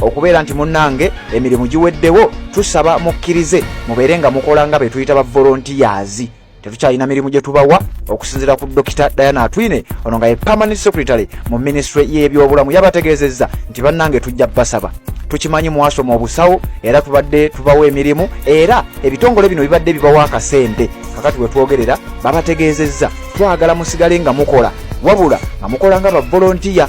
okubeera nti munnange emirimu giweddewo tusaba mukkirize mubeere nga mukola nga be tuyita ba volontiyazi tetukyalina mirimu gye tubawa okusinziira ku dokita diana atwine ono nga ye permanent secretary mu minisitule y'ebyobulamu yabategeezezza nti bannange tujja basaba tukimanyi mwasoma obusawo era tubadde tubawa emirimu era ebitongole bino bibadde bibawa akasente kakati wetwogerera babategeezezza twagala musigale nga mukola wabula nga mukola nga bavolontiya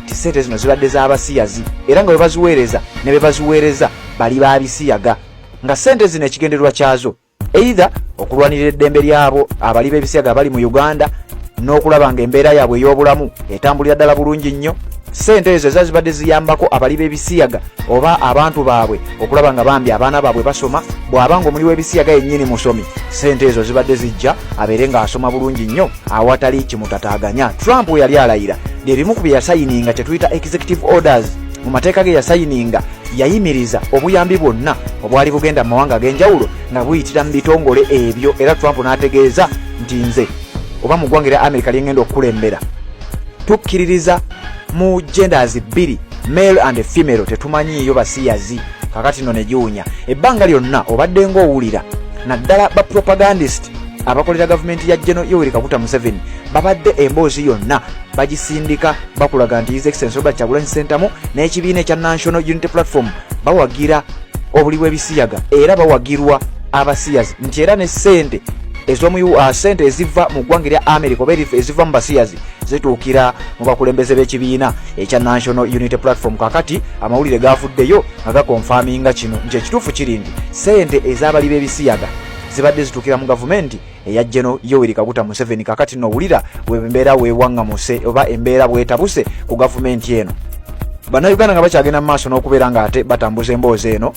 nti ssente zino zibadde z'abasiyazi era nga bebaziweereza ne bebaziweereza bali ba bisiyaga nga ssente zino ekigendererwa kyazo eitha okulwanirira eddembe lyabo abali b'ebisiyaga abali mu uganda n'okulaba nga embeera yaabwe ey'obulamu etambulira ddala bulungi nnyo ssente ezo eza zibadde ziyambako abali b'ebisiyaga oba abantu baabwe okulaba nga bambi abaana baabwe basoma bw'aba nga omuli w'ebisiyaga yennyini musomi ssente ezo zibadde zijja abeere ng'asoma bulungi nnyo awatali kimutataaganya trump we yali alayira byebimu ku bye yasayininga kye tuyita executive orders mu mateeka ge yasayininga yayimiriza obuyambi bwonna obwali bugenda mu mawanga ag'enjawulo nga buyitira mu bitongole ebyo era trump n'ategeeza nti nze oba mu ggwanga era amerika lyengenda okukulembera tukkiririza mu genders bbiri male and female tetumanyiiyo basiyazi kakati no negiwunya ebbanga lyonna obadde ngaowulira naddala ba propagandist abakolera gavumenti ya jeno yoweri kaguta museveni babadde emboozi yonna bagisindika bakulaga nti his excellence robert kyagulanyi sentamu n'ekibiina ekya national unity platform bawagira obuli bw'ebisiyaga era bawagirwa abasiyazi nti era ne sente ezomu uh, sente eziva mu ggwanga erya america oba eziva mu basiyazi zituukira mu bakulembeze b'ekibiina ekya national unity platform kakati amawulire gaavuddeyo nga gakonfaminga kino nti ekituufu kiri nti ssente ez'abali b'ebisiyaga zibadde zitukira mu gavumenti eya jeno yoweri kaguta museveni kakati nowulira wembeera wewangamuse oba embeera bwetabuse ku gavumenti eno bannayuganda nga bakyagenda mu maaso n'okubeera nga ate batambuza emboozi eno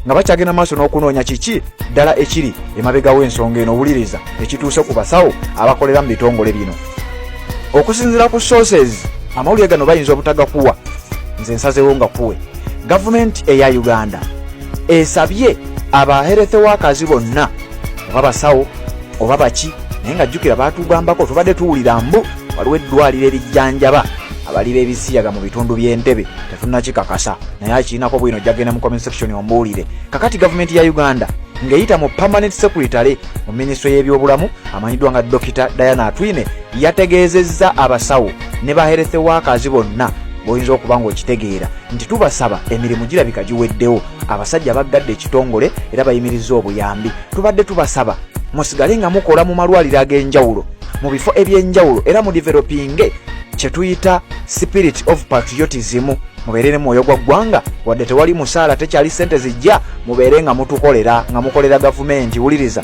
nga bakyagenda maaso n'okunoonya kiki ddala ekiri emabegawo ensonga eno owuliriza ekituuse ku basawo abakolera mu bitongole bino okusinzira ku sources amawulire gano bayinza obutagakuwa nze nsazewo nga kuwe gavumenti eya uganda esabye aba health workers bonna oba basawo oba baki naye nga jjukira baatugambako tubadde tuwulira mbu waliwo eddwaliro erijjanjaba abali b'ebisiyaga mu bitundu by'entebe tetunakikakasa naye akirinako bwino jagenda mu comment section ombuulire kakati gavumenti ya uganda ng'eyita mu permanent secretary mu minisitule y'ebyobulamu amanyiddwa nga dokita diana atwine Yategeezezza abasawo ne ba health workers bonna boyinza okuba ng'okitegeera nti tubasaba emirimu girabika giweddewo abasajja baggadde ekitongole era bayimirizza obuyambi tubadde tubasaba musigale nga mukola mu malwaliro ag'enjawulo mu bifo eby'enjawulo era mu developinge kye tuyita spirit of patriotism mubeere ne mwoyo gwa ggwanga wadde tewali musaala tekyali ssente zijja mubeere nga mutukolera nga mukolera gavumenti wuliriza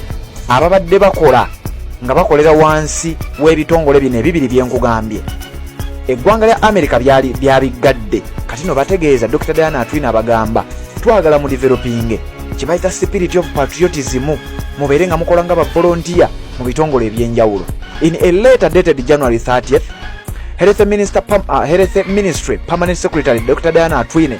ababadde bakola nga bakolera wansi w'ebitongole bino ebibiri byenkugambye eggwanga lya amerika byali byabiggadde kati no bategeeza dr diana atwina abagamba twagala mu developinge kyebayita spirit of patriotism mubeere nga mukola nga bavolontiya mu bitongole ebyenjawulo in a letter dated january 30th health minister, uh, health ministry permanent secretary dr diana atwine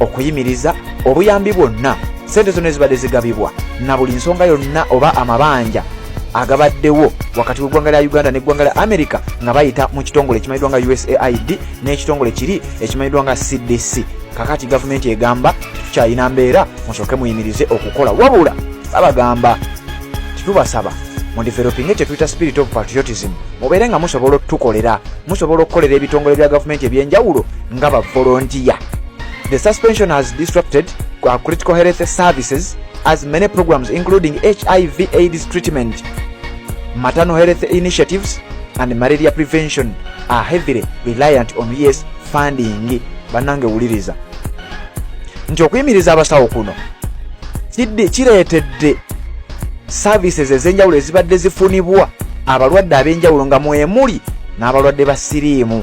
okuyimiriza obuyambi bwonna sente zonna ezibadde zigabibwa na buli nsonga yonna oba amabanja agabaddewo wakati w'eggwanga lya uganda n'eggwanga lya america nga bayita mu kitongole ekimanyiddwa nga usaid n'ekitongole kiri ekimanyiddwa nga cdc kakati gavumenti egamba tetukyalina mbeera musooke muyimirize okukola wabula babagamba tetubasaba mudevelopinge kyetuyita spirit of patriotism mubeere nga musobola otutukolera musobola okukolera ebitongole bya gavumenti ebyenjawulo nga ba volunteer. The suspension has disrupted uh, critical health services as many programs including HIV AIDS treatment, maternal health initiatives and malaria prevention are heavily reliant on US funding. Banange wuliriza nti okuyimiriza abasawo kuno kireetedde services ez'enjawulo ezibadde zifunibwa abalwadde ab'enjawulo nga mwemuli n'abalwadde ba siriimu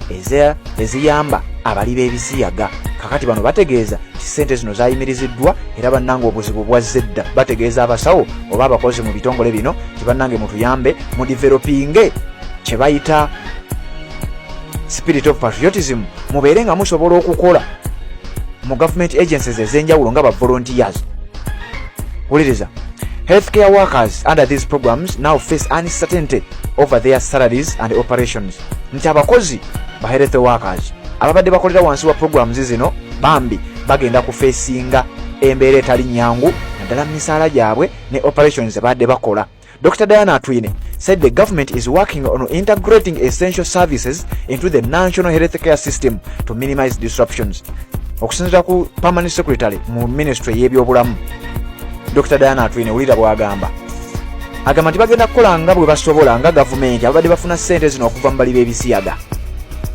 eziyamba abali b'ebisiyaga kakati bano bategeeza nti ssente zino zayimiriziddwa era bannanga obuzibu bwazze edda bategeeza abasawo oba abakozi mu bitongole bino nti bannange mutuyambe mu developinge kye bayita spirit of patriotism mubeere nga musobola okukola mu government agencies ez'enjawulo nga ba volunteers wuliriza healthcare workers under these programs now face uncertainty over their salaries and operations nti abakozi ba health workers ababadde bakolera wansi wa programs zino bambi bagenda kufeesinga embeera etali nyangu naddala mu misaala gyabwe ne operations zebaadde bakola dr diana atwine said the government is working on integrating essential services into the national health care system to minimize disruptions okusinzira ku permanent secretary mu ministry y'ebyobulamu dr diana atwine wulira bwagamba agamba nti bagenda kukola nga bwe basobola nga gavumenti ababadde bafuna ssente zino okuva mu bali b'ebisiyaga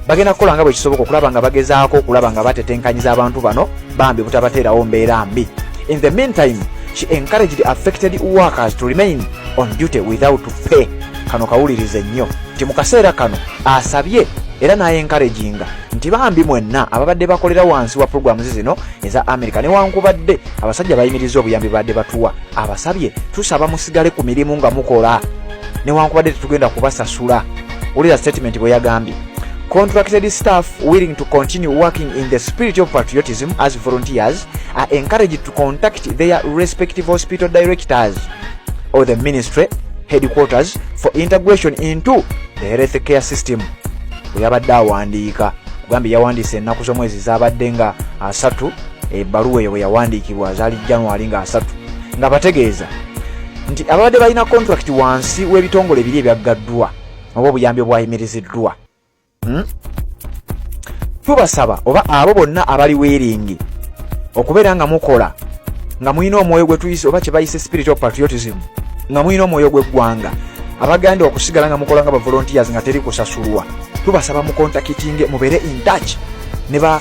bagenda kukola nga bwe kisoboka okulaba nga bagezaako okulaba nga batetenkanyiza abantu bano bambi butabateerawo mbeera mbi in the meantime she encouraged affected workers to remain on duty without pay kano kawulirize nnyo nti mu kaseera kano asabye era n'ayenkaraginga nti bambi mwenna ababadde bakolera wansi wa pulogulaamu ze zino eza amerika newankubadde abasajja bayimirizza obuyambi badde batuwa abasabye tusaba musigale ku mirimu nga mukola newankubadde tetugenda kubasasula wulira statement bwe yagambye Contracted staff willing to continue working in the spirit of patriotism as volunteers are encouraged to contact their respective hospital directors or the ministry headquarters for integration into the health care system bwe yabadde awandiika ogambye yawandiisa ennaku z'omwezi zaabadde nga asatu ebbaluwa eyo bwe yawandiikibwa zaali january nga asatu nga bategeeza nti ababadde balina kontulakiti wansi w'ebitongole biri ebyaggaddwa oba obuyambi obwayimiriziddwa hmm? tubasaba oba abo bonna abali weeringi okubeera nga mukola nga mulina omwoyo gwe tuyise oba kye bayise spirit of patriotism nga mulina omwoyo gw'eggwanga abaganda okusigala nga mukola nga bavolontiers nga teri kusasulwa tubasaba mukontakitinge mubeere in touch ne ba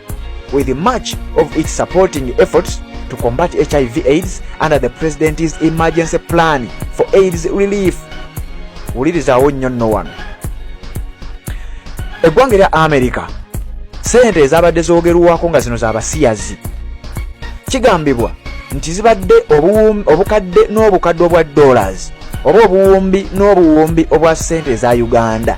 with much of its supporting efforts to combat HIV AIDS under the President's emergency plan for AIDS relief. Wulirizawo nnyo nno wano. Eggwanga erya Amerika ssente ezabadde zoogerwako nga zino z'abasiyazi kigambibwa nti zibadde obukadde n'obukadde obwa dollars oba obuwumbi n'obuwumbi obwa ssente eza Uganda.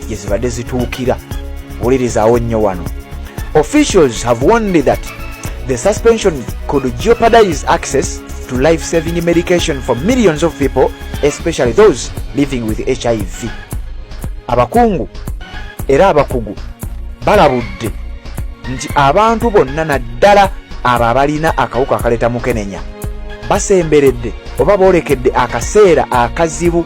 gye zibadde zituukira wulirizawo nnyo wano officials have warned that the suspension could jeopardize access to life saving medication for millions of people especially those living with hiv abakungu era abakugu balabudde nti abantu bonna naddala abo abalina akawuka akaleeta mukenenya basemberedde oba boolekedde akaseera akazibu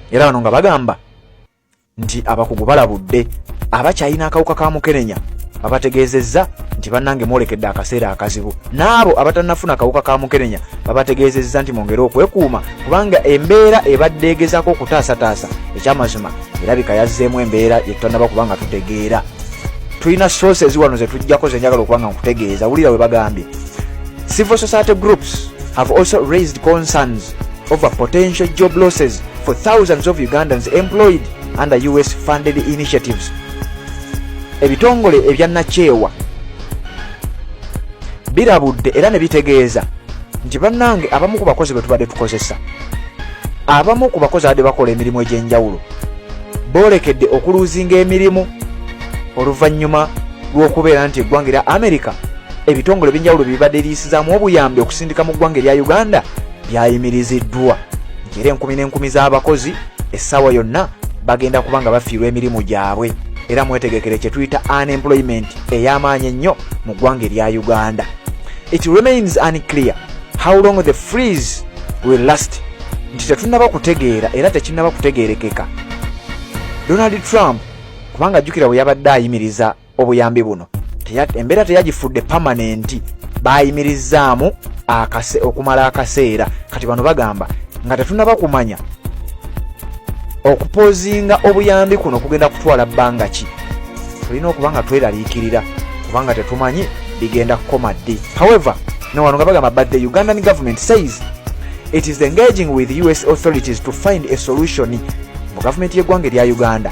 era bano nga bagamba nti abakugu balabudde abakyalina akawuka ka mukenenya babategeezezza nti bannange mwolekedde akaseera akazibu n'abo abatanafuna akawuka ka mukenenya babategeezezza nti mwongere okwekuuma kubanga embeera ebadde egezaako okutaasataasa ekyamazima erabika yazzeemu embeera yetutanaba kubanga tutegeera tulina sources wano zetujjako zenjagala okubanga nkutegeeza wulira we bagambye civil society groups have also raised concerns over potential job losses for thousands of Ugandans employed under US funded initiatives. Ebitongole ebya nakyewa birabudde era ne bitegeeza nti bannange abamu ku bakozi be tubadde tukozesa abamu ku bakozi abadde bakola emirimu egy'enjawulo boolekedde okuluuzinga emirimu oluvannyuma lw'okubeera nti eggwanga erya amerika ebitongole ebyenjawulo bibadde liyisizaamu obuyambi okusindika mu ggwanga erya uganda byayimiriziddwa nti era enkumi n'enkumi z'abakozi essaawa yonna bagenda kuba nga bafiirwa emirimu gyabwe era mwetegekere kye tuyita unemployment ey'amaanyi ennyo mu ggwanga erya uganda it remains unclear how long the freeze will last nti tetunaba kutegeera era tekinaba kutegeerekeka donald trump kubanga jjukira bwe yabadde ayimiriza obuyambi buno embeera teyagifudde pamanenti baayimirizzaamu okumala akaseera kati bano bagamba nga tetunaba kumanya okupozinga obuyambi kuno kugenda kutwala bbanga ki tulina okuba nga tweraliikirira kubanga tetumanyi bigenda kukoma ddi however newano nga bagamba but the ugandan government says it is engaging with us authorities to find a solution mu gavumenti y'eggwanga erya uganda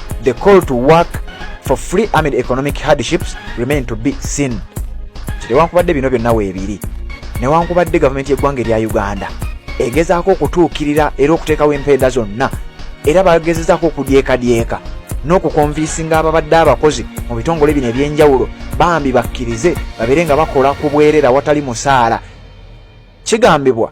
the call to work for free amid economic hardships remain to be seen kitewankubadde bino byonna weebiri newankubadde gavumenti y'eggwanga erya uganda egezaako okutuukirira era okuteekawo empeeda zonna era bagezezaako okudyekadyeka n'okukonviisinga ababadde abakozi mu bitongole bino eby'enjawulo bambi bakkirize babeere nga bakola ku bwerera watali musaala kigambibwa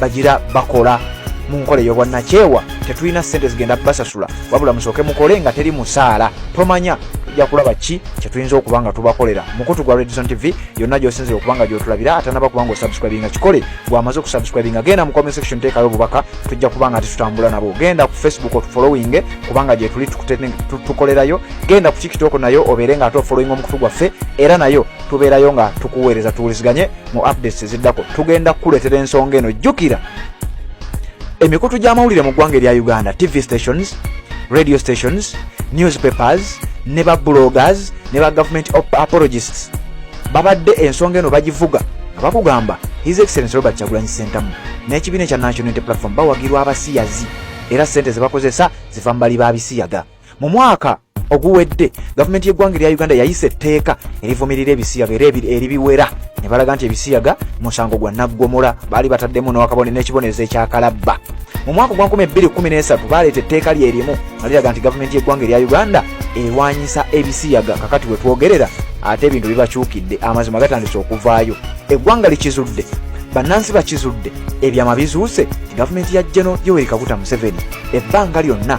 bagira bakola mu nkola ey'obwannakyewa tetulina ssente zigenda basasula wabula musooke mukole nga teri musaala tomanya tujja kulaba ki kyetuyinza okuba nga tubakolera mukutu gwa redison tv yonna gyosinzira okuba nga gyotulabira atanaba kuba nga osubscribinga kikole gwamaze okusubscribinga genda mu comment section teekayo obubaka tujja kuba nga tetutambula nabo genda ku facebook otufollowing kubanga gyetuli tukolerayo genda ku tiktok nayo obeere nga ate ofollowing omukutu gwaffe era nayo tubeerayo nga tukuweereza tuwuliziganye mu updates eziddako tugenda kukuleetera ensonga eno jjukira emikutu gy'amawulire mu ggwanga erya uganda tv stations radio stations newspapers ne ba bloggers ne ba government apologists babadde ensonga eno bagivuga nga bakugamba his excellence robert kyagulanyi sentamu n'ekibiina ekya national unity platform bawagirwa abasiyazi era ssente ze bakozesa ziva mu bali ba bisiyaga mu mwaka oguwedde gavumenti y'eggwanga erya uganda yayisa etteeka erivumirira ebisiyaga era eribiwera ne balaga nti ebisiyaga musango gwa naggomola baali bataddemu nowakabone n'ekibonerezo ekyakalabba mu mwaka ogwa 213 baleeta etteeka lyerimu nga liraga nti gavumenti y'eggwanga erya uganda erwanyisa ebisiyaga kakati we twogerera ate ebintu bibakyukidde amazima gatandise okuvaayo eggwanga likizudde bannansi bakizudde ebyama bizuuse gavumenti ya geno yoweri kaguta museveni ebbanga lyonna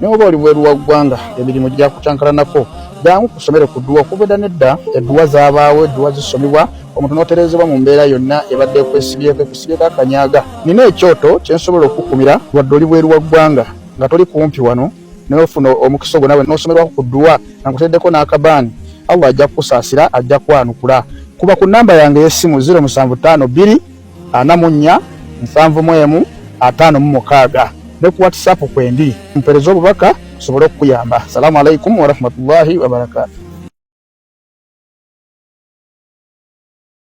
naye oba oli bweru wa ggwanga emirimu gyakucankalanako jangu ku ssomero ku dduwa okubeda nedda edduwa zabaawo edduwa zisomebwa omuntu n'otereezebwa mu mbeera yonna ebadde ekwesibyeko ekusibyeko akanyaga nina ekyoto kye nsobola okukukumira wadde oli bweru wa ggwanga nga toli kumpi wano nofuna omukisa ogwo nawe n'osomerwako ku dduwa nga nkuteddeko n'akabaani allah ajja kukusaasira ajja kwanukula kuba ku nnamba yange ey'essimu 075 2 ana mu nnya nsanvu mu emu ataano mu mukaaga ne ku whatsapp kwendi mpereza obubaka tusobole okukuyamba assalamu alaikum warahmatullahi wabarakatu